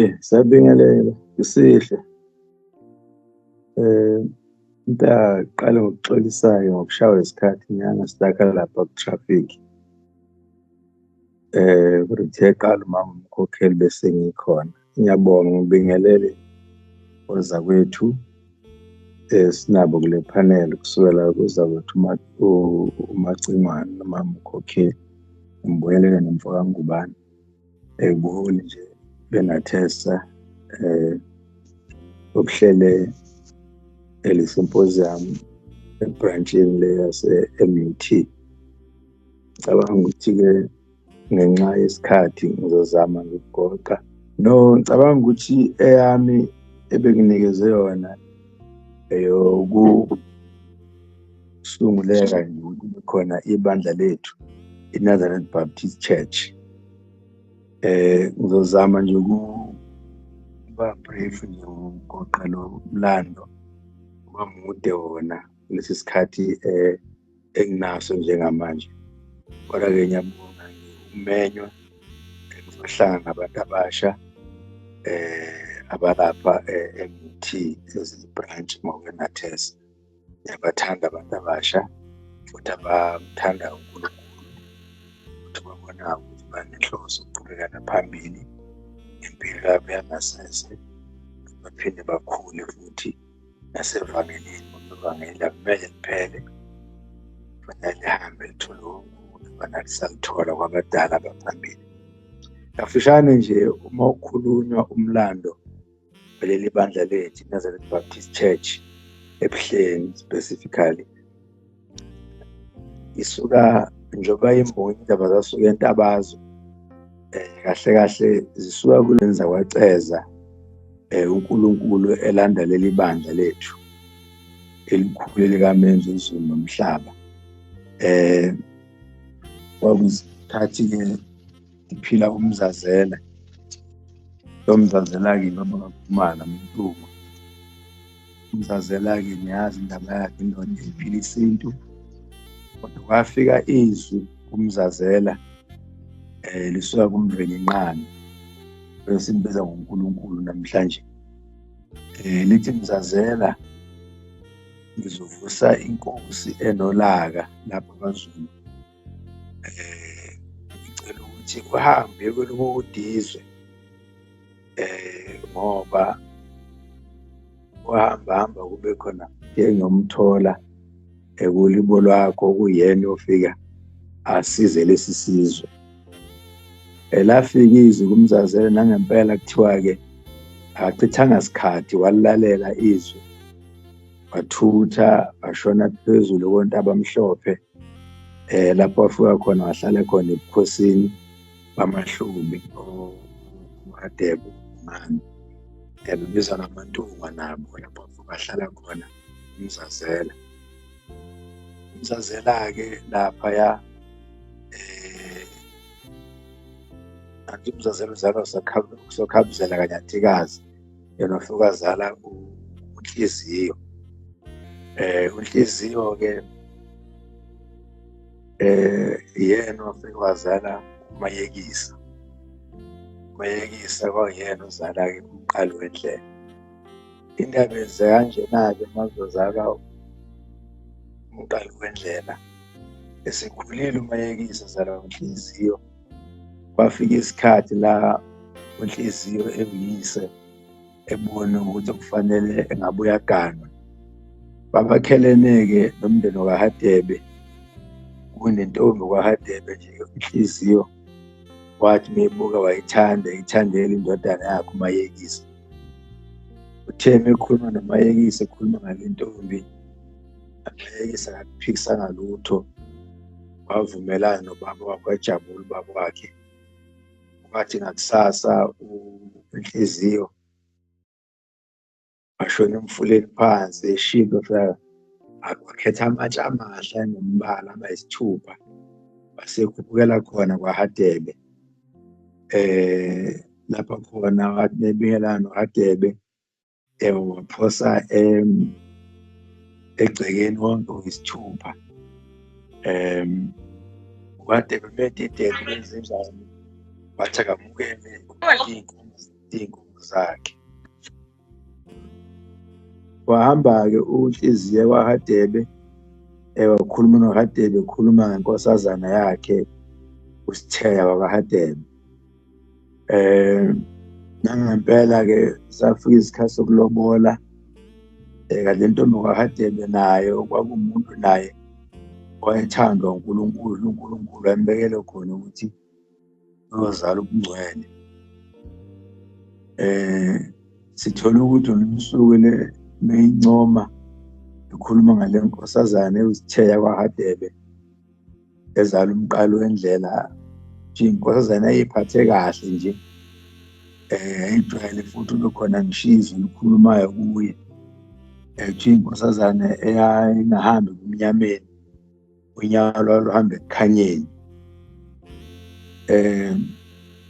Eh, Sabingelela isihle eh ngiyaqala ngokuxolisayo ngokushawa isikhathi nyanga sidaka lapha ku traffic eh ukuthi eqala umama umkhokheli bese ngikhona ngiyabonga ngibingelele oza kwethu eh sinabo kule panel kusukela kuza kwethu umacingwane nomama umkhokheli ngibuyelele nomfoka ngubani ebuholi nje bengathesa eh ukuhlele eli symposium ebranchini le yase-MUT cabanga ukuthi-ke ngenxa yesikhathi ngizozama ngikugoqa no ngicabanga ukuthi eyami ebenginikeze yona eyoku kusunguleka nje ukuthi kube khona ibandla lethu i-nazareth baptist church eh ngizozama nje ukuba brief nje ngogoqa lo mlando uba mude wona kulesi sikhathi eh enginaso njengamanje kodwa-ke ngiyabonga ngiwumenywa engizohlanga ngabantu abasha eh abalapha eh, emuthi ezibranch ngokwenathesa yabathanda abantu abasha futhi abamthanda uNkulunkulu futhi babona ukuthi banenhloso ukuqhubekana phambili impilo yabo yangasese baphinde bakhule futhi nasevangelini ivangeli akumele liphele kufanele lihambe lithole ukubana lisalithola kwabadala baphambili kafushane nje uma ukhulunywa umlando veleli bandla lethu Nazareth Baptist Church ebuhleni specifically isuka njengoba imbongi indaba zasuka entabazo eh, kahle kahle zisuka kulenza kwaceza eh, uNkulunkulu elanda leli bandla lethu elikhulu likamenza izulu nomhlaba eh kwakuzikhathi ke ngiphila umzazela lo mzazela-ke ngoba kakhumana mntuma umzazela-ke niyazi indaba yakhe indoda iphila isintu kodwa kwafika izwi kumzazela eh lisuka kumndweni inqani esimbiza ngoNkulunkulu namhlanje eh lithi mzazela ngizovusa inkosi enolaka lapha kwaZulu eh ngicela ukuthi uhambe kwelokudizwe eh ngoba uhamba hamba kube khona ngiyomthola ekulibo lwakho kuyena ofika asize lesi sizwe elafika izwi kumzazele nangempela kuthiwa-ke akachithanga sikhathi walilalela izwi wathutha washona phezulu kontaba mhlophe eh lapho afika khona wahlale khona ebukhosini bamahlubi oMadebo mani ebizwa namantunga nabo lapho bahlala khona umzazela umzazela-ke laphaya eh angithi umzazela uzalwa usokhabuzela kanyantikazi yena hlukazala unhliziyo eh unhliziyo ke eh yena ofike wazala umayekisa umayekisa kwayena uzala ke umqali wendlela indaba yenze kanjena-ke mazozalwa umqali wendlela esikhulile umayekisa zalwa ngenhliziyo kwafika isikhathi la unhliziyo engiyise ebona ukuthi kufanele engabe uyaganwa babakhelene-ke nomndeni wakahadebe kunentombi kwahadebe nje inhliziyo wathi meyibuka wayithanda ithandela indodana yakhe umayekisi uthe mekhuluma nomayekisi ekhuluma ngale ntombi amayekisi akakuphikisanga lutho wavumelana nobaba wakhe wajabula ubaba wakhe wathi ngakusasa inhliziyo ashona emfuleni phansi eshilo akhetha amatshe amahle anombala abayisithupha wasekhuphukela khona kwahadebe eh lapha khona nebingelana nohadebe yebo waphosa um egcekeni wonke uyisithupha um kade bebedidele benzenjani wathi akamukele iy'nkomo zakhe wahamba-ke unhliziye kwahadebe ewakhuluma nohadebe ekhuluma ngenkosazana yakhe usitheya wakahadebe eh nangempela ke safika isikhathi sokulobola eh, kanti intombi kwakadebe nayo kwakumuntu naye wayethandwa uNkulunkulu uNkulunkulu ayembekele khona ukuthi uyozala ubungcwele eh sithola ukuthi uMsuku le meyincoma ekhuluma ngale nkosazane uzitheya kwaHadebe ezala umqalo wendlela nje inkosazana eyiphathe kahle nje eh ayijwayele futhi ubekhona ngishizo likhulumayo kuye ethi eh, inkosazane eyayingahambi kumnyameni unyawo lwaluhambe ekukhanyeni eh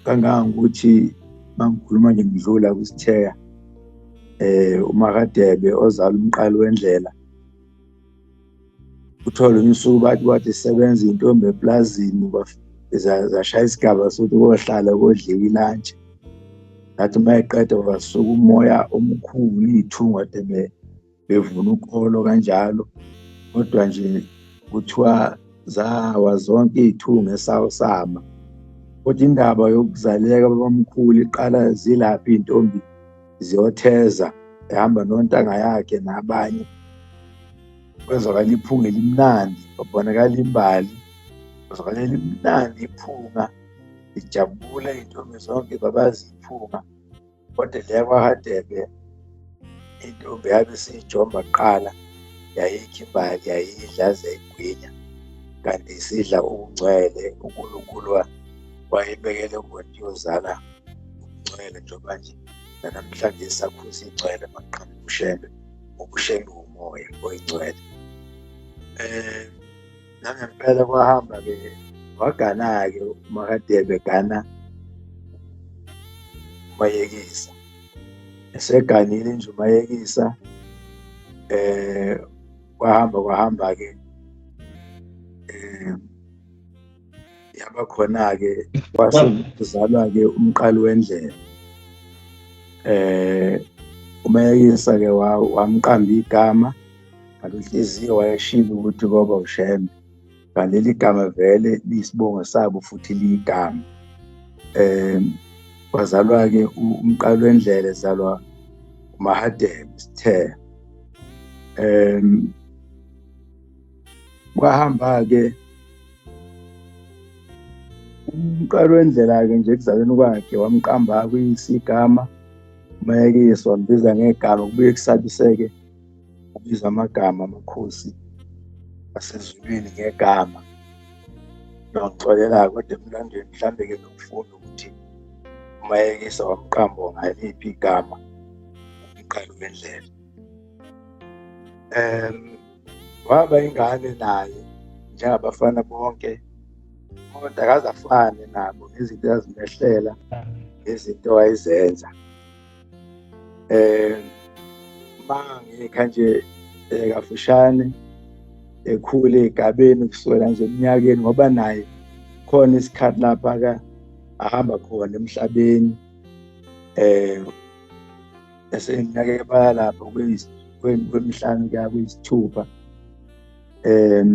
kangangokuthi mangikhuluma nje ngidlula kwisitheka eh umakadebe ozala umqali wendlela uthole umsuku bathi bathi sebenza intombi eplazini zashaya isigaba sokuthi kohlala kodliwa ilantshi ngathi uma eqeda wasuka umoya omkhulu iy'thunga de bevuna ukholo kanjalo kodwa nje kuthiwa zawa zonke iy'thunga esawusama kodwa indaba yokuzaleka babamkhulu iqala zilaphi iy'ntombi ziyotheza ehamba nontanga yakhe nabanye kwezwakala iphunga elimnandi babonakala imbali kwezwakala elimnandi iphunga ijabule iy'ntombi zonke babazi iphunga kodwa leya kwahadebe intombi yabe siyijomba kuqala yayikho imbali yayidla zayigwinya kanti sidla ukungcwele unkulunkulu wayebekele umuntu yozala ngokungcwele njengoba nje nanamhlanje sakhuza ingcwele maqhamu ubushembe ubushembe umoya oyingcwele eh nangempela kwahamba ke wagana-ke umakadebe gana umayekisa eseganile nje umayekisa eh kwahamba kwahamba-ke um yaba khona-ke kwase kuzalwa-ke umqali wendlela eh umayekisa-ke wamqamba igama ngalonhliziyo wayeshilo ukuthi koba ushembe ngaleli gama vele liyisibongo sabo futhi liyigama um wazalwa-ke umqali wendlela ezalwa umahadebe sithe um kwahamba-ke umqalo wendlela-ke nje ekuzalweni kwakhe wamqamba kuyisigama umayekiswa mbiza ngegama kubuye kusabiseke ubiza amagama amakhosi asezulwini ngegama noxolelako kodwa emlandweni mhlambe-ke nokufunda ukuthi umayekisa wamqambo ngaliphi igama umqalo wendlela um waba ingane naye njengabafana bonke kodwa akaze afane nabo ngezinto azimehlela ngezinto ayizenza eh ma ngikha nje eh, kafushane ekhule egabeni kusukela nje eminyakeni ngoba naye khona isikhathi lapha ka ahamba khona emhlabeni eh eseminyaka ebala lapho kwemihlanu kuya kuyisithupha um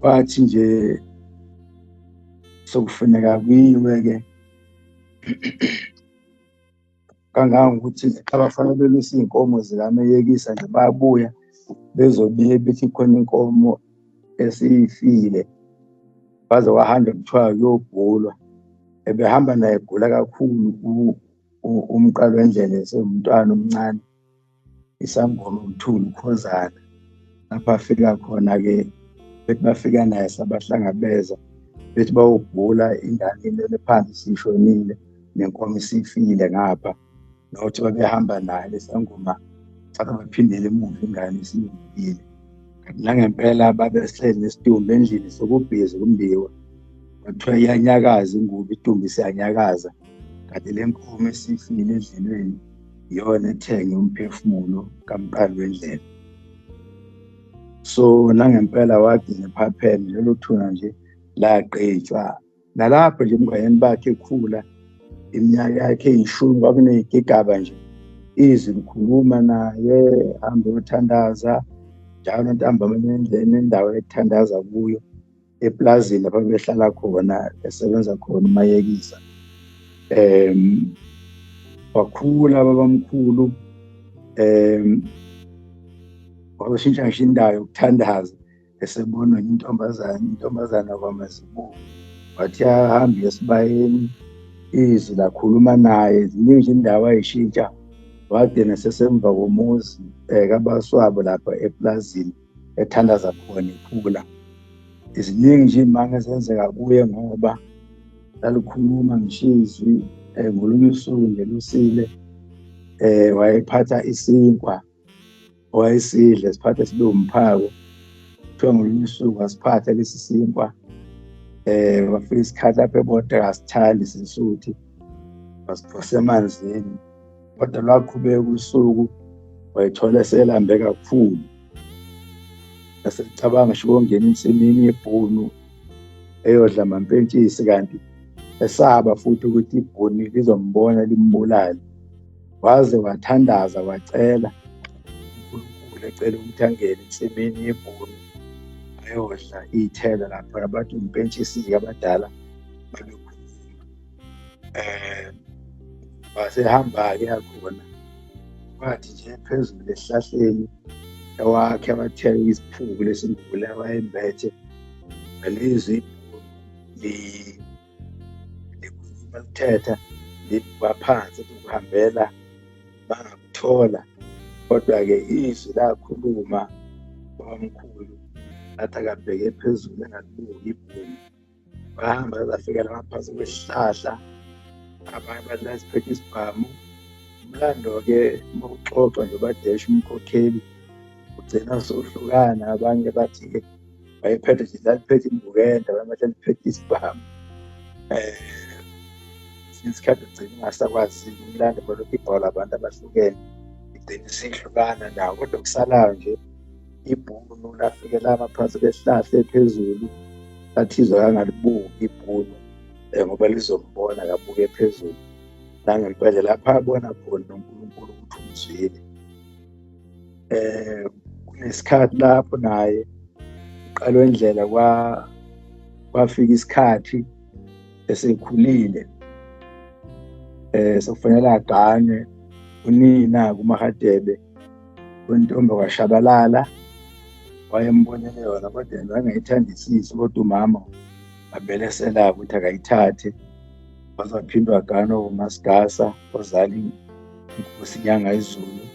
kwathi nje sokufuneka kuyiwe-ke kangangokuthi abafana belusa iy'nkomo zikameyekisa nje bayabuya bezobiye bethi khona inkomo esifile waze wahamba kuthiwa uyobhulwa ebehamba naye egula kakhulu umqalo wendlela esewumntwana omncane isangoma umthulu ukhozana lapho afika khona-ke bethi bafika naye sabahlangabeza bethi bawubhula ingane ilele phansi sishonile nenkomo isifile ngapha nokuthi babehamba naye lesangoma thatha baphindele emuva ingane isilungile kanti nangempela babehleli nesitumbu endlini sokubhizi kumbiwa kwathiwa iyanyakaza ingubo itumbu isiyanyakaza kanti le nkomo esifile endlelweni iyona ethenge umphefumulo kamqali wendlela so nangempela wagcina ephapheme lelo thuna nje lagqitshwa nalapho nje emngayeni bakhe ekhula iminyaka yakhe eyishumi kwakuneyigigaba nje izwi likhuluma naye hambe yothandaza njalo ntambama nendleni endawo ethandaza kuyo eplazini lapho behlala khona esebenza khona umayekisa um wakhula babamkhulu um wazoshintsha ngisho indawo yokuthandaza esebonwa intombazane intombazana kwamazibuko wathi ahambe esibayeni izwi lakhuluma naye ziningi indawo ayishintsha wagcina sesemva komuzi eh, kabaswabo lapha eplazini ethandaza khona iphula ziningi nje imanga ezenzeka kuye ngoba lalikhuluma ngishizwi um eh, ngolunye usuku nje lusile um wayephatha isinkwa wayesidle siphathe sibe umphako kuthiwa ngolunye usuku asiphathe lesi sinkwa eh wafika isikhathi lapho ebodeka asithandi sisuthi wasiphose emanzini kodwa lwaqhubeka usuku wayithola eselambe kakhulu esecabanga ngisho ukungena ensimini yebhunu eyodla mampentshisi kanti esaba futhi ukuthi ibhuni lizombona limbulale waze wathandaza wacela uNkulunkulu ecela ukuthi angene ensimini yebhunu ayodla iy'thelo lapho abantu impentshisi-ke abadala babekhuluma um wasehamba-ke yakhona wathi nje phezulu esihlahleni ewakhe abathela isiphuku lesimbule awayembethe ngelizwi likhuluma lithetha libuka phansi ukuhambela bangakuthola kodwa-ke izwi lakhuluma babamkhulu lathi akabheke phezulu engalibuki ibhumi bahamba bazafikela ngaphansi kwesihlahla abanye abantu baziphethe isibhamu umlando-ke uma uxoxwa nje badeshi umkhokheli ugcina sohlukana abanye bathi-ke wayephethe nje laliphethe imbukenda wayemele laliphethe isibhamu eh isikhathi ugcina ungasakwazi umlando kwalokhu ibhola abantu abahlukene igcina isihlukana nawo kodwa kusalayo nje ibhunu lafike lama phansi kwehlahla ephezulu lathizwa kangalibuki ibhunu um ngoba lizombona kabuke phezulu nangempela lapha abona khona unkulunkulu ukuthi umzwile eh kunesikhathi lapho naye uqalwe indlela kwa kwafika isikhathi esekhulile eh sokufanele agane unina kumahadebe wentombi washabalala wayembonele yona kodwa yena wayengayithandisisi kodwa umama avele selaka ukuthi akayithathe wazophindwa gano umasigasa ozali inkosi nyanga izulu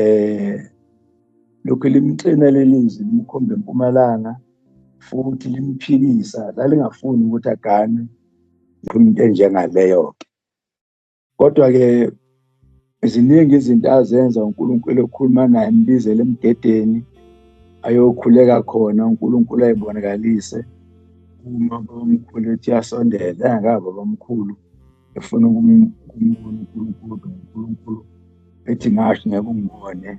eh lokhu limxina lelizwi limkhombe empumalanga futhi limphikisa lalingafuni ukuthi agane into enjengaleyo-ke kodwa-ke ziningi izinto azenza unkulunkulu ekhuluma naye embizele emgedeni ayokhuleka khona unkulunkulu ayibonakalise uma bamkhulu ethi yasondela engakabi abamkhulu efuna ukumbona uNkulunkulu phela uNkulunkulu ethi ngasho ngeke ungibone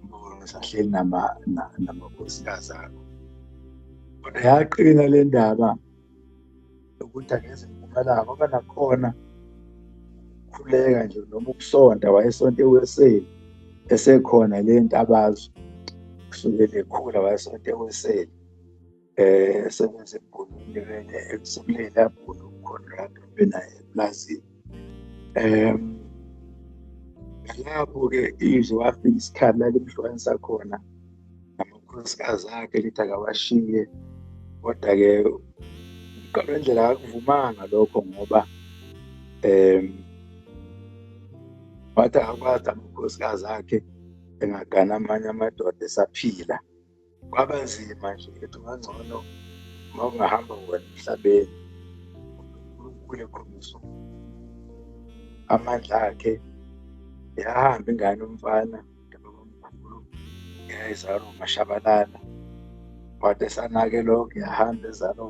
ngibone sahleli nama namakhosikazi akho kodwa yaqina le ndaba yokuthi angeze ngivumela ngoba nakhona ukukhuleka nje noma ukusonta wayesonta e-USA esekhona le ntabazo kusukela ekhula wayesonta e-USA eh esebenza ebholile vele ekusebuleni lapho uConrad obenaye eplazini um ngalapho-ke izwe wafika isikhathi lalimhlukanisa khona namakhosikazi akhe lithi akawashiye kodwa-ke uqalo wendlela akakuvumanga lokho ngoba um wathi akakwazi amakhosikazi akhe engagana amanye amadoda esaphila kwaba nzima nje ethi ungangcono uma ungahamba wena emhlabeni unkulunkulu ekhombisa amandla akhe yahamba ingane umfana ntababamkhulu yayizalwa umashabalala wade sanake lokho yahamba ezalwa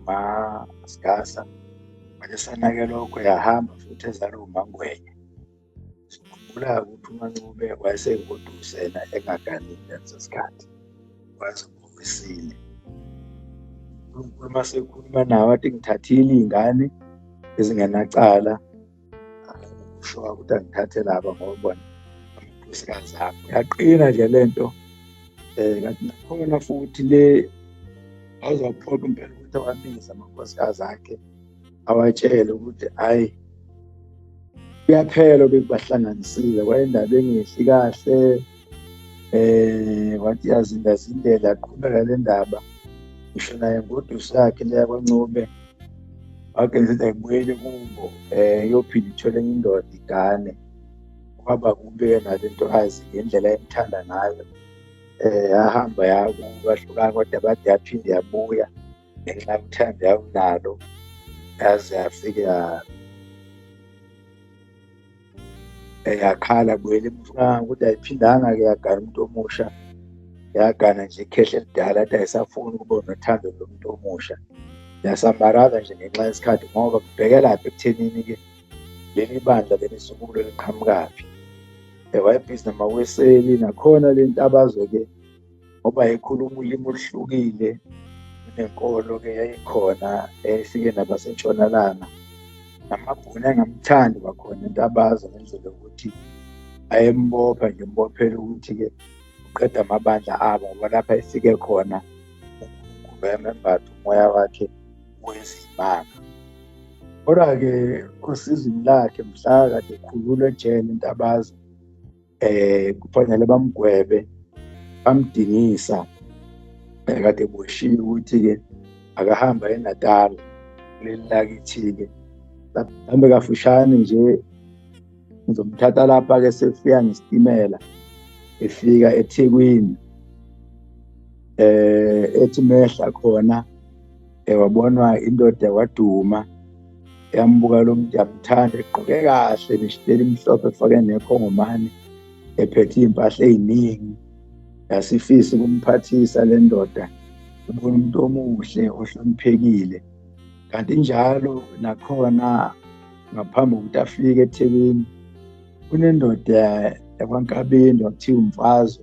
umasigasa wade sanake lokho yahamba futhi ezalwa umangwenya sikhumbula ukuthi umancube wayesengodusela engaganile ngaleso sikhathi wayezibomisile unkulunkulu uma sekhuluma nawo athi ngithathile iy'ngane ezingenacala usho ukuthi angithathe laba ngoba bona amakhosikazi akho yaqina nje le nto um kanti nakhona futhi le awuzawuphoqa impela ukuthi awabize amakhosikazi akhe awatshele ukuthi hayi kuyaphela obekubahlanganisile kwayendaba engehli kahle eh wathi yazindazindela aqhubeka le ndaba ngisho naye ngodusi yakhe leya kwancube wake ngithi ayibuyele kubo um eh, iyophinde ithole enye indoda igane kwaba kubi yena le nto azi ngendlela emthanda ngayo um eh, yahamba yakubahlukana kodwa bade yaphinde yabuya ngenxa yokuthanda yawunalo yaze yafike yakhala buyela emfukanga ukuthi ayiphindanga-ke yagana umuntu omusha yagana nje ikhehle elidala athi ayisafuni ukuba nothando lomuntu omusha yasambaraza nje ngenxa yesikhathi ngoba kubhekelaphi ekuthenini-ke leli bandla leli sukulo liqhamukaphi ewayebhizi namaweseli nakhona le ntabazo-ke ngoba ekhuluma ulimi oluhlukile nenkolo-ke yayikhona efike nabasentshonalanga namabhuni angamthandi kwakhona into abazi ngendlela yokuthi ayembopha nje mbophela ukuthi-ke uqeda amabandla abo ngoba lapha efike khona unkulunkulu wayemembatha umoya wakhe wezimanga kodwa-ke osizini lakhe mhla kade ekhulula ejele into abazi eh kufanele bamgwebe bamdingisa eh, kade boshiye ukuthi-ke akahamba eNatal kuleli lakithi-ke hambe kafushane nje ngizomthatha lapha-ke sefika ngesitimela efika ethekwini eh ethi mehla khona ewabonwa eh, indoda waduma yambuka lo muntu yamthanda egqoke kahle nesiteli mhlophe efake nekhongomane ephethe iy'mpahla ey'ningi yasifisa ukumphathisa le ndoda ubona umuntu omuhle ohloniphekile kanti njalo nakhona ngaphambi kokuthi afike ethekwini kunendoda yakwankabeni wakuthiwa umfazo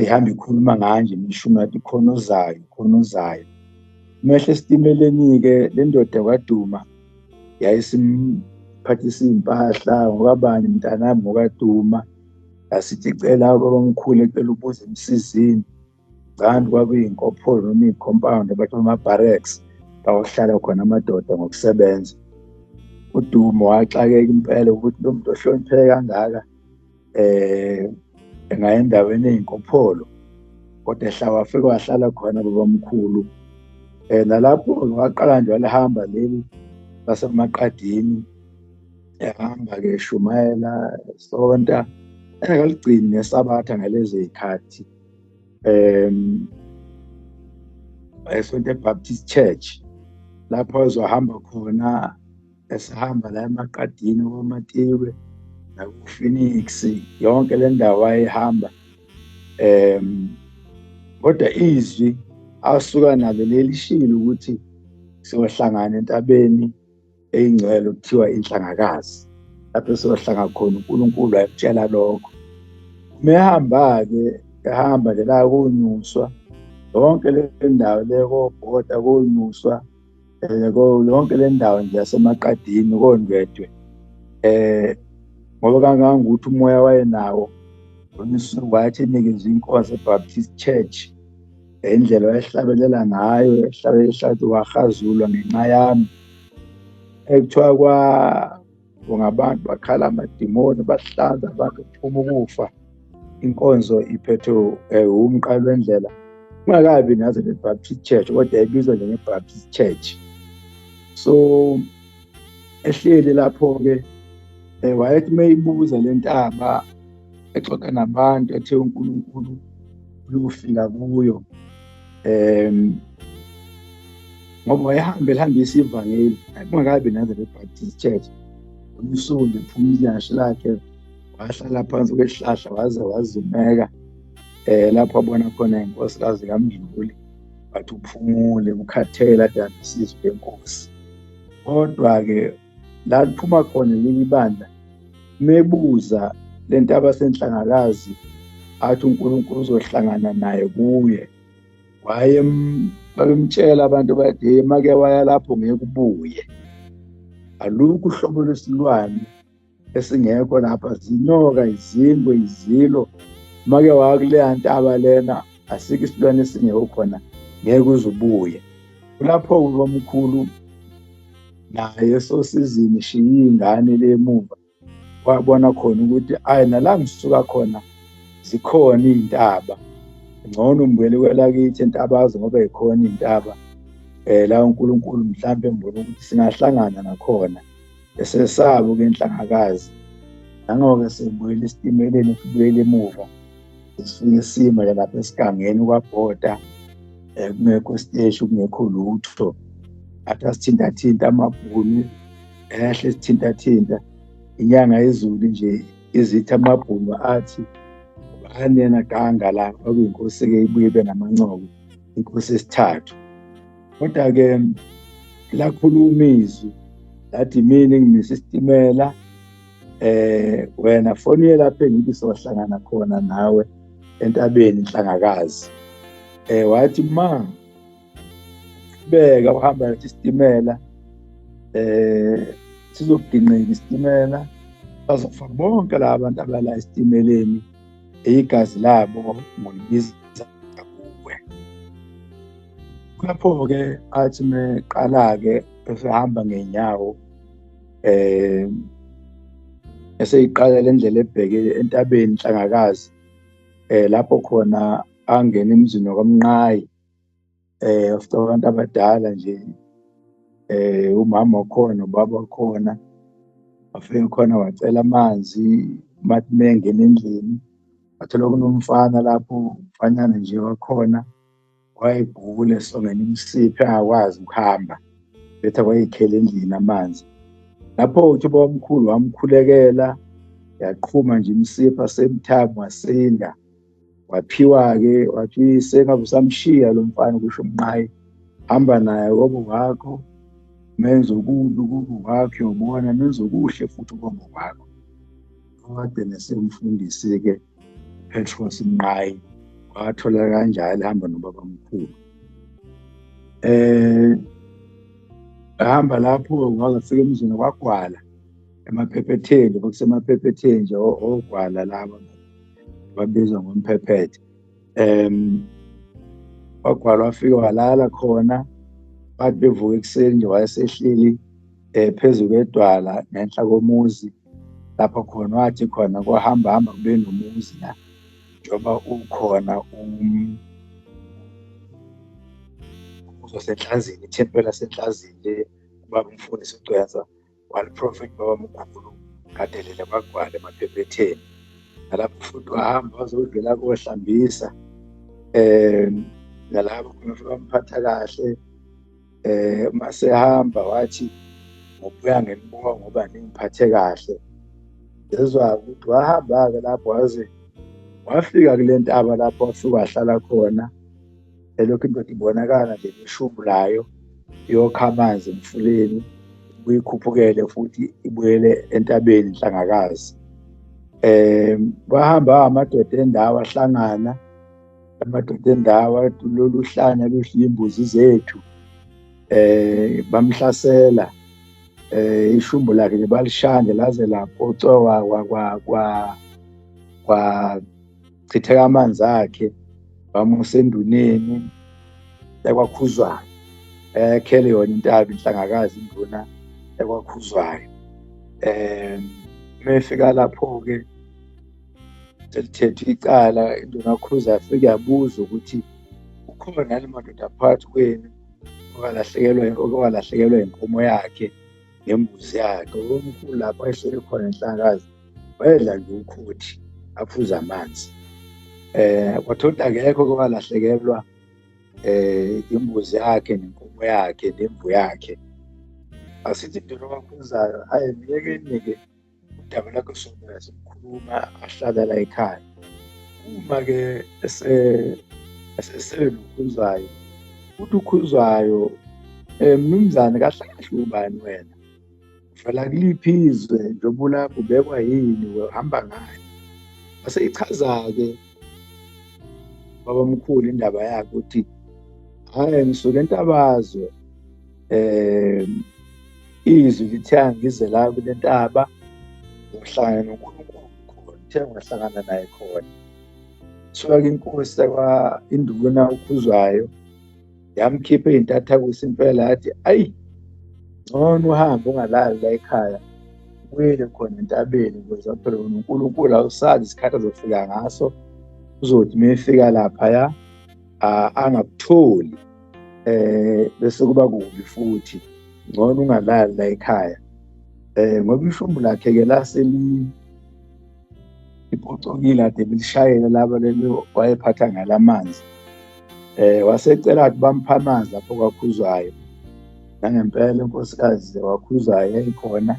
ehambe ikhuluma nganje imishumi yathi khona ozayo khona ozayo mehle esitimeleni-ke le ndoda kwaduma yayisimuphathisa iy'mpahla ngokabani mntanami ngokaduma yasithi cela babamkhulu ecela ubuza emsizini canti kwakuyinkopholo noma iy'compound abathi ama-barracks bawahlala khona amadoda ngokusebenza udumo waxakeka impela ukuthi lo muntu ohlonipheke kangaka eh ngaye endaweni eyinkopholo kodwa ehla wafika wahlala khona babamkhulu eh nalapho waqala nje walihamba leli lasemaqadini ehamba ke shumayela sonta engaligcini nesabatha ngalezi zikhathi em esonto eBaptist Church lapho ezohamba khona esihamba la emaqadini kwamatiwe naku-phoenix yonke le ndawo wayehamba um kodwa izwi asuka nalo lelishilo ukuthi siyohlangana entabeni eyingcwele okuthiwa inhlangakazi lapho siyohlanga khona unkulunkulu ayekutshela lokho uma ehamba-ke ehamba nje la konyuswa yonke le ndawo le kobhoda konyuswa Yebo yonke le ndawo nje yaseMaqadini koNdwedwe eh ngoba kangangokuthi umoya wayenawo uNisuku wayethi inikezwe inkonzo eBaptist Church indlela wayehlabelela ngayo ehlabelela ehlathi wahazulwa ngenxa yami ekuthiwa kwa ngabantu bakhala amadimoni bahlanza abantu kuphuma ukufa inkonzo iphethwe eh, umqalo wendlela kungakabi naze ne-baptist church kodwa yayibizwa njenge-baptist church so ehleli lapho-ke um wayethi uma ibuza le ntaba exoxa nabantu ethe unkulunkulu uyofika kuyo um ngoba wayehambe elihambisa ivangeli kungakabi naze le-baptist church umsulu ephuma ilashe lakhe wahlala phansi kwesihlahla waze wazumeka eh lapho abona khona inkosikazi kamdluli wathi uphumule ukhathele adandisizwe lenkosi kodwa-ke la kuphuma khona leli bandla mebuza le nto abasenhlangakazi athi unkulunkulu uzohlangana naye kuye waye babemtshela abantu bade make waya lapho ngeke ubuye alukho uhlobo lwesilwane esingekho lapha zinyoka izingwe izilo make wakuleya ntaba lena asikho isilwane esingekho khona ngeke uzubuye kulapho ubamkhulu naye sosizini shiye ingane le emuva wabona khona ukuthi ayi nala ngisuka khona zikhona iy'ntaba ngcono ngibuyele kwelakithi entabazi ngoba yikhona iy'ntaba um la unkulunkulu mhlawumbe mbona ukuthi singahlangana nakhona Esesabo ke inhlangakazi. Nangoke sibuyele esitimeleni sibuyele emuva. Sifike sima lapha esigangeni kwabhoda eh, kungekho siteshi kungekho lutho. Athi asithintathinta amabhunu ehle sithintathinta inyanga yezulu nje izitha amabhunu athi anena ganga la kwakuyinkosi-ke ibuye ibe namancoko inkosi esithathu kodwa-ke lakhuluma izwi lathi mina ngimisa isitimela eh wena foniye lapho engithi sohlangana khona nawe entabeni inhlangakazi eh wathi ma beka uhamba isitimela eh sizokugingqika isitimela bazofaka bonke laba bantu abala esitimeleni igazi labo ngolibiza kuwe lapho-ke athi meqala-ke esehamba ngenyawo eh eseyiqala lendlela ebheke entabeni inhlangakazi eh lapho khona angena emzini wakamnqayi eh of abantu abadala nje eh umama wakhona ubaba wakhona afike khona wacela amanzi mathi mengena endlini wathola kunomfana lapho umfanyana nje wakhona wayegula esongena imisiphi akwazi ukuhamba betha kwayikhela endlini amanzi lapho uthi bawamkhulu wamkhulekela yaqhuma nje imisipha same time wasinda waphiwa-ke wathi sengabe usamshiya lo mfana kusho umnqayi hamba naye kobo wakho menze okubi kubo wakho yobona menze okuhle futhi kobo wakho kade nesemfundisi-ke petros mnqayi wathola kanjalo hamba nobaba mkhulu eh hamba lapho wazafika emzini kwagwala emaphephetheni kusemaphephetheni nje ogwala laba babizwa ngomphephethe um wagwala wafike walala khona bathi bevuka ekuseni nje wayesehleli um eh, phezu kwedwala ngenhla komuzi lapho khona wathi khona kuhamba hamba kube nomuzi la njengoba ukhona um uzosenhlazini ithempela senhlazini le ubaba umfundisi ugcwensa one prophet baba mkhulu kadelele bagwale emaphephetheni nalapho futhi wahamba wazodlula kohlambisa eh nalapho khona futhi bamphatha kahle eh uma sehamba wathi ngobuya ngenibuka ngoba ningiphathe kahle ngezwa ukuthi wahamba-ke lapho waze wafika kule ntaba lapho wafike wahlala khona elokhu indoda ibonakala nje neshubu layo yokha amanzi emfuleni buyikhuphukele futhi ibuyele entabeni nhlangakazi um bahamba amadoda endawo ahlangana amadoda endawo lolu hlanya luhliye imbuzi zethu um bamhlasela eh ishumbu lakhe nje balishande laze laphocowa kwa kwa kwa chitheka amanzi akhe bamusa enduneni ekwakhuzwayo ekhele yona intaba inhlangakazi induna ekwakhuzwayo um mefika lapho-ke selithethwe icala induna khuza yafike yabuza ukuthi ukhona yale madoda phakathi kwenu okalahlekelwa inkomo yakhe ngembuzi yakhe ubomkhulu lapho ehleli khona enhlakazi wayedla nje ukhothi aphuza amanzi eh kwathola akekho kwalahlekelwa eh imbuzi yakhe nenkomo yakhe nemvu yakhe asithi into abakhonzayo hayi myekeni-ke udaba lakho sona sikhuluma ahlala la ekhaya uma-ke eselukhuzwayo ukuthi ukhuzwayo um eh, mnumzane kahle kahle ubani wena uvela kuliphi izwe njengoba ulapho ubekwa yini uhamba ngani wase ichaza-ke babamkhulu indaba yakhe ukuthi hhayi ngisuke entabazwe eh izwi lithiya ngize la kule ntaba ngohlangana noNkulunkulu khona uthe ngahlangana naye khona suka inkosi yakwa induna ukhuzwayo yamkhipha izintatha kusimpela yathi ayi ngcono uhambe ungalali la ekhaya ubuyele khona entabeni ukuze aphele wona uNkulunkulu awusazi isikhathi azofika ngaso uzothi uma efika laphaya angakutholi eh bese kuba kubi futhi ngcono ungalali la ekhaya eh ngoba ishumbu lakhe ke laseli iphucukile ade bilishayela laba lelo wayephatha ngalamanzi eh wasecela ukuthi bamphamazi lapho kwakhuzwayo nangempela unkosikazi wakhuzwayo yayikhona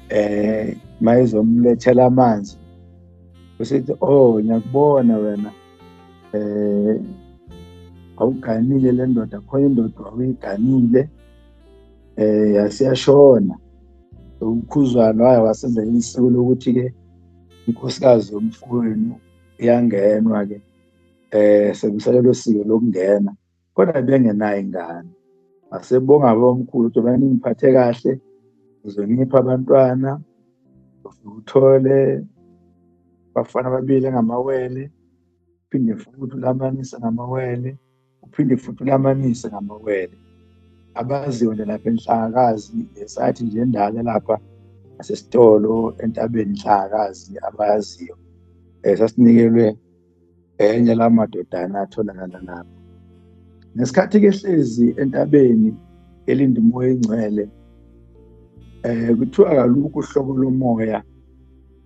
eh mayezomlethela amanzi usithi oh ngiyakubona wena eh awuganile le ndoda khona indoda awuyiganile eh yasiyashona ukhuzwana waye wasenza isiko lokuthi ke inkosikazi yomfowenu iyangenwa ke eh sekusele losiko lokungena kodwa bengenayo ingane asebonga abomkhulu ukuthi bani ngiphathe kahle ngizonipha abantwana uthole bafana babili ngamawele uphinde futhi ulamanise ngamawele uphinde futhi ulamanise ngamawele abaziyo nje lapha enhlakazi esathi nje endala lapha asesitolo entabeni inhlakazi abayaziyo um sasinikelwe enye la madodana atholakala lapho ngesikhathi kehlezi entabeni elinda umoya engcwele eh kuthiwa kalukho uhlobo lomoya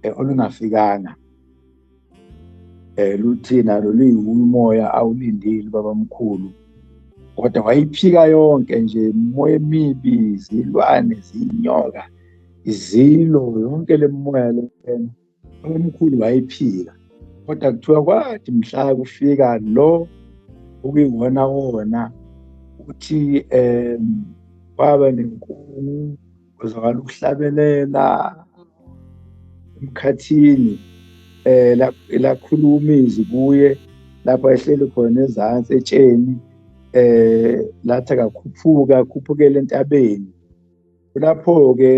eh, olungafikanga eh luthina loluyimoya awulindile babamkhulu kodwa wayiphika yonke nje moya emibi izilwane zinyoka izilo yonke lemoya lena omkhulu wayephika kodwa kuthiwa kwathi mhla kufika lo okuyiwona wona ukuthi um kwaba nenkungu kuzwakala ukuhlabelela emkhathini eh lakhuluma izwi kuye lapho ehleli khona ezansi etsheni eh lathi akakhuphuka akhuphukele entabeni kulapho-ke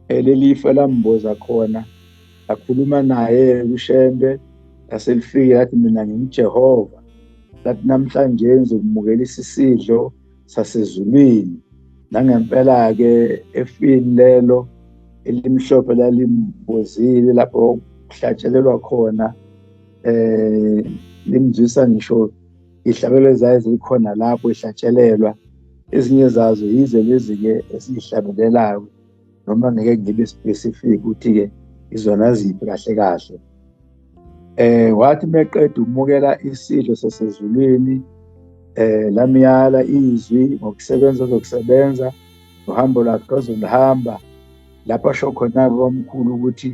eh, leli ifa lamboza khona lakhuluma naye kushembe laselifike lathi mina ngingujehova lathi namhlanje ngizokumukela isisidlo sasezulwini nangempela-ke efini lelo elimhlophe lalimbozile lapho kuhlatshelelwa khona eh limzwisa ngisho ihlabelo ezayo zikhona lapho ihlatshelelwa ezinye zazo yize lezi-ke esiyihlabelelayo noma ngeke ngibe specific ukuthi-ke izona ziphi kahle kahle eh wathi meqeda ukumukela isidlo sasezulwini eh lamyala izwi ngokusebenza ozokusebenza uhambo lwakhe ozolihamba lapho asho khona-ke omkhulu ukuthi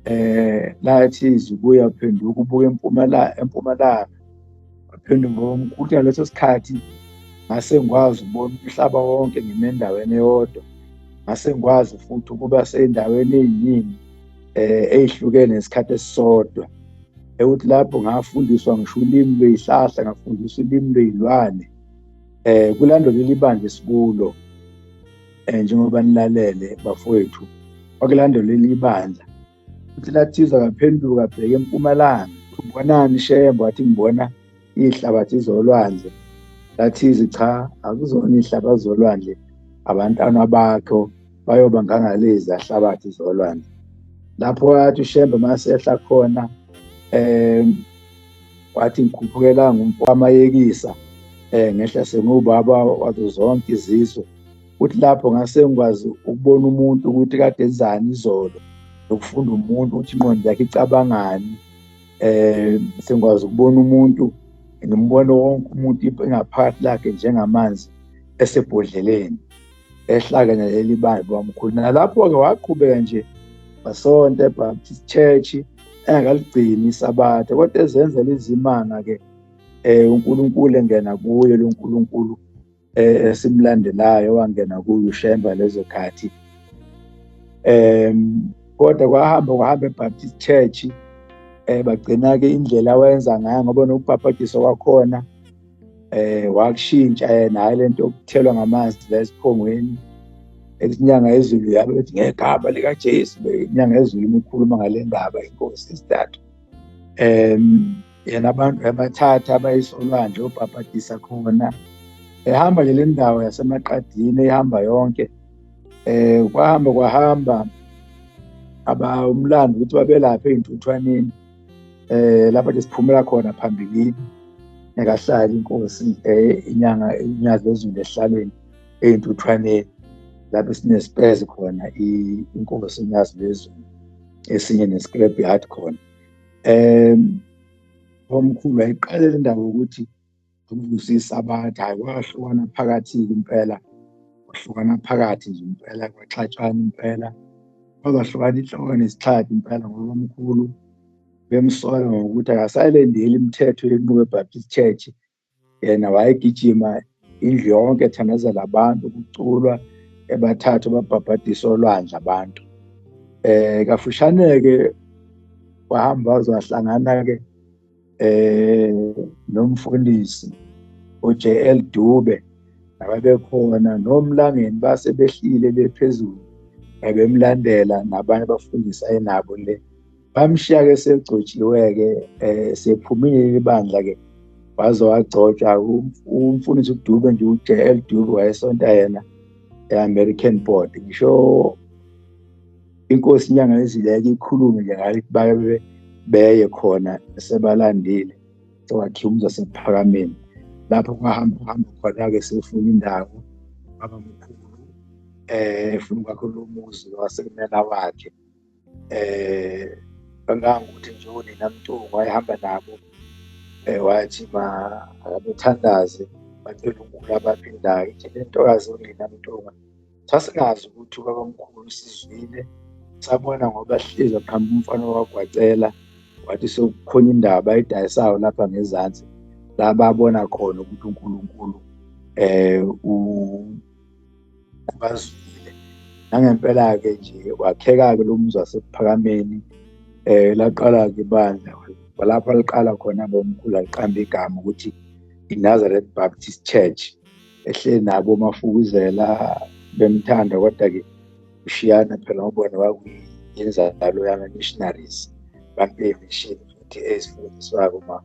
eh lathi izibuya phenduka ubuke empumalanga empumalanga phendu ngokuthi ngaleso sikhathi ngase ngikwazi ukubona umhlaba wonke ngime endaweni eyodwa ngase ngikwazi futhi ukuba seyindaweni eyiningi eh eyihlukene isikhathi esisodwa ekuthi lapho ngafundiswa ngisho ulimi lweyihlahla ngafundiswa ulimi lweyilwane eh kulando leli bandla esikulo um njengoba nilalele bafowethu wakulandela eliyibandla futhi lathiza kaphenduka bheke empumalanga ubonani shembo wathi ngibona ihlabathi zolwandle lathizi cha akuzona ihlabathi zolwandle abantwana bakho bayoba ngangalezi ahlabathi zolwandle lapho wathi ushembe masehla khona um wathi ngikhuphukela ngumfo wamayekisa um ngehla sengubaba wazo zonke izizwe ukuthi lapho ngase ngikwazi ukubona umuntu ukuthi kade enzani izolo nokufunda umuntu ukuthi inqondo yakhe icabangani eh sengikwazi ukubona umuntu ngimbone wonke umuntu ingaphakathi lakhe njengamanzi esebhodleleni ehlakene leli bandla wamkhulu nalapho-ke waqhubeka nje wasonta ebaptist church engaligcini isabatha kodwa ezenzela izimanga-ke um unkulunkulu engena kuye lo nkulunkulu eh, esimlandelayo wangena kuyo uShemba lezo khathi um kodwa kwahamba kwahamba eBaptist Church eh bagcina-ke indlela awayenza ngayo ngoba nokubhabhadiswa kwakhona eh wakushintsha yena hayi lento yokuthelwa ngamanzi la esiphongweni inyanga yezulu yabe bethi ngegama likaJesu inyanga yezulu imikhuluma ngale ndaba inkosi isithathu um yena abantu ebathatha abayise olwandle obhabhadisa khona ehamba ke le ndawo yasemaqadini ehamba yonke eh kwahamba kwahamba aba umlando ukuthi babelaphe ezintuthwaneni eh lapha ke siphumela khona phambilini nekahlala inkosi eh inyanga inyazi ezulu ehlalweni ezintuthwaneni lapho sinesipezi khona inkosi inyazi lezulu esinye nescrap yard khona um omkhulu wayiqale le ndaba yokuthi ukuvusisa abantu hhayi kwahlukana phakathi-ke impela kwahlukana phakathi nje impela kwaxatshana impela kwazahlukana inhloko nesixhathi impela ngoba omkhulu bemsola ngokuthi akasayilendeli imithetho yenqubo ebaptist church yena wayegijima indlu yonke ethandazela abantu kuculwa ebathathu babhabhadisa olwandle abantu eh kafushane-ke wahamba wazohlangana-ke eh nomfundisi uJL Dube ababekhona nomlangeni base behlile bephezulu abemlandela nabanye abafundisi ayenabo le bamshiya-ke segcotshiwe-ke um sephumile leli bandla-ke waze wagcotshwa umfundisi udube nje ujl dube wayesonta yena e-american board ngisho inkosi inyanga ezileke ikhulume nje ngayo ukuthi babe beye khona sebalandile sewakhiwa umza sephakameni lapho kwahamba hamba khona-ke sefuna indawo babamkhulu um efuna ukwakho lo muzi wasemela wakhe eh angangokuthi nje unina mtungu wayehamba nabo eh wathi ma akabethandaze bacela unkulu abaphindayo ithi le ntokazi unina mtungu sasingazi ukuthi ubabamkhulu sizwile sabona ngoba hlezi aqhamba umfana wagwacela wathi sekukhona indaba edayisayo lapha ngezansi la babona khona ukuthi uNkulunkulu eh bazwile nangempela-ke nje wakheka-ke lo muzi wasephakameni um laqala-ke ibandla walapha liqala khona bomkhulu aliqamba igama ukuthi i-nazareth baptist church ehleli nabo mafukuzela bemthanda kodwa-ke ushiyana phela ubona kwakuyinzalo yama-missionaries bampe imishini futhi ezifundiswako ma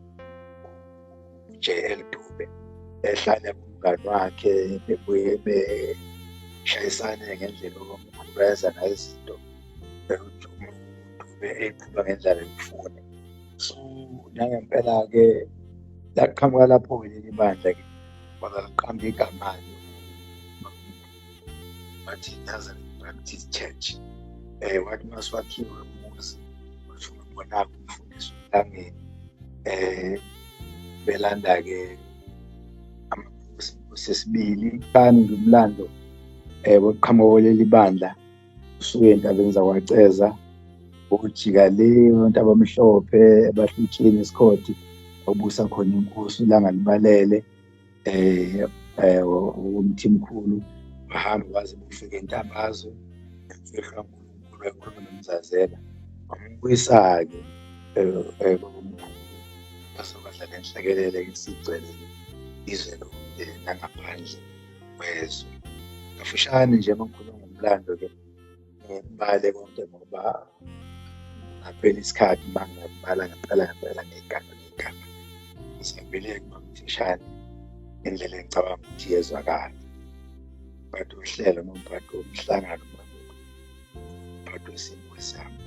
uJL Dube ehlale kumngani wakhe bebuye beshayisane ngendlela okumkhubeza nayizinto umuntu Dube eyiqhuba ngendlela emfune so nangempela-ke laqhamuka lapho-ke leli bandla-ke kwazaliqamba igama-ke wathi yaza practice church eh wathi maswakhiwe umuzi washo ngibona kumfundisi uhlangene eh belanda ke amaphuzu sesibili kani ngumlando eh boqhamuko leli bandla usuke entabeni zakwaceza ukujika le abantu abamhlophe abahlutsheni esikhodi obusa khona inkosi ilanga libalele eh eh umthimkhulu bahamba baze bufike intambazo efihlwa uNkulunkulu ekhuluma nomzazela wambuyisa-ke kwakumkhulu basobadla le nhlekelele esigcwelele izwe lonke nangaphandle kwezwe kafushane nje uma ngikhuluma ngomlando-ke ngibale konke ngoba ngaphela isikhathi uma ngingabala ngaqala ngempela ngey'gana ngey'gana ngisabele kumamthishane indlela engicabanga ukuthi yezwakala umphathi wohlelo nomphathi womhlangano umphathi wesimo sami